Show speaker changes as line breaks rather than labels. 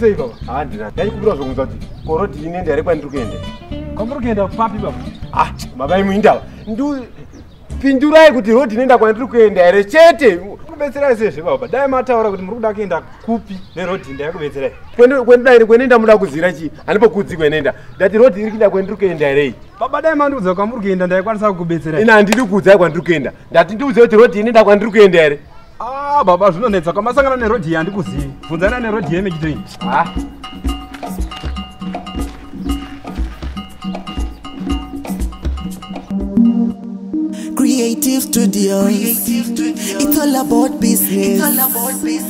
sei baba handi ah, ndaikumbira zvokunzwa kuti koroti inende yare kwandiri kuenda kwamuri kuenda
papi baba ah baba imwe
indava ndipindurai kuti rodi inoenda kwandiri kuenda here chete kubetserai sezve baba dai mataura kuti muri kuda kuenda kupi nerodi ndayakubetserai kwendidai kwenenda muda kuzira chii hanipokudzi kwenenda ndati rodi iri kuenda kwandiri kuenda herei baba dai mandiudza
kwamuri kuenda ndaikwanisa kukubetserai ini handidi kuudzai kwandiri
kuenda ndati ndiudze kuti rodhi ini ndakwa ndiri kuenda here ah, baba
zvinonetsa kwamasangana nerodhi iyi handikuzivi bvunzana nerodhi iyi yemechitoini ah. Creative Studios. Creative
Studios. It's all about business. It's all about business.